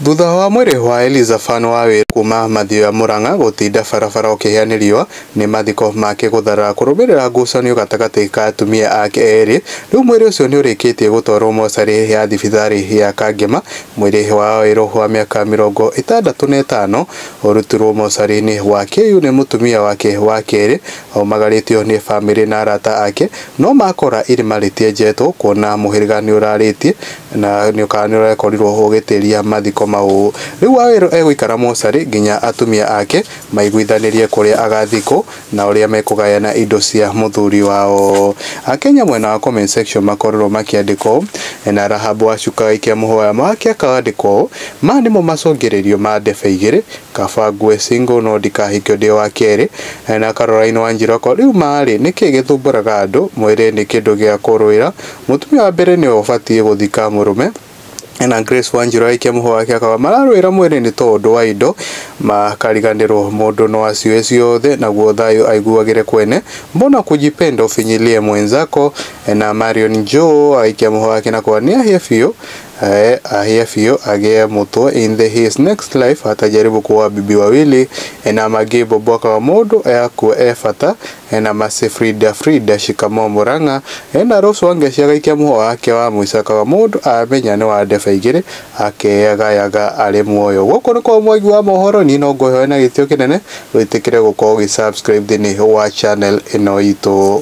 Thutha wa mwĩrĩ wa Elizafan wa wĩra kuuma Mathioya Murang'a gũtinda barabara ũkĩhĩa nĩ riũa, nĩ mathiko make gũtharara kũrũmĩrĩra ngucanio gatagatĩ ka atumia ake erĩ, rĩu mwĩrĩ ũcio nĩ ũrĩkĩtie gũtwarwo mocarĩ ya thibitarĩ ya Kangema, mwĩrĩ wa Wawerũ wa mĩaka mĩrongo ĩtandatũ na ĩtano ũrutirwo mocarĩ-inĩ wa KU nĩ mũtumia wake wa kerĩ, aumagarĩtio nĩ bamĩrĩ na arata ake, no makora irima rĩtienjetwo kuona mũhĩrĩga nĩ ũrarĩtie Na nĩũkaga nĩũrekorirwo ũgĩtĩria mathiko mau. Rĩu Wawerũ egũikara mocarĩ nginya atumia ake maiguithanĩrie kũrĩa agathikwo na ũrĩa mekũgayana indo cia mũthuri wao. Akenya mwena wa comment section makorirwo makĩandĩka ũũ, Na Rahabu wa cuka agĩikia mũhũya wake akandĩkwo ũũ, Maya nĩmo macũngĩrĩrio ma ndebe igĩrĩ, kaba ngue single no ndikahikio ndĩ wa kerĩ, na Caroline Wanjiru ako rĩu ma rĩ, nĩkĩĩ gĩthumbũraga andũ, mwĩrĩ nĩ kĩndũ gĩa kũrũĩra, Mũtumia wa mbere nĩwe ũbatiĩ gũthika mũrũme. Ena Grace Wanjiru agĩikia mũhũa wake akauga mararũĩra mwĩrĩ nĩ tondũ wa indo makariganĩrwo mũndũ no acioe ciothe naguo thayũ aiguagĩre kwene mbona kujipenda ufinyilie mwenzako na Marion Joe agĩikia mũhũa wake na kuga nĩahĩe biũ eh, ahĩe biũ agĩe mũtwe in the his next life atajaribu kuoa bibi wawili na Maggie Bobo akauga mũndũ akua e bata Ena mercy Frida Frida shikamoo Murang'a Ena Rose Wangeshi agaikia mũhũa wake wa mũico akauga mũndũ amenya nĩ wa ndebe igĩrĩ akeyagayaga arĩ muoyo Gũkũ nĩ kwa Mwangi wa mohoro niĩ no ngũhoe na gĩtĩo kĩnene wĩtĩkĩre gũkorwo ũgĩ subscribe thĩinĩ wa channel ĩno itũ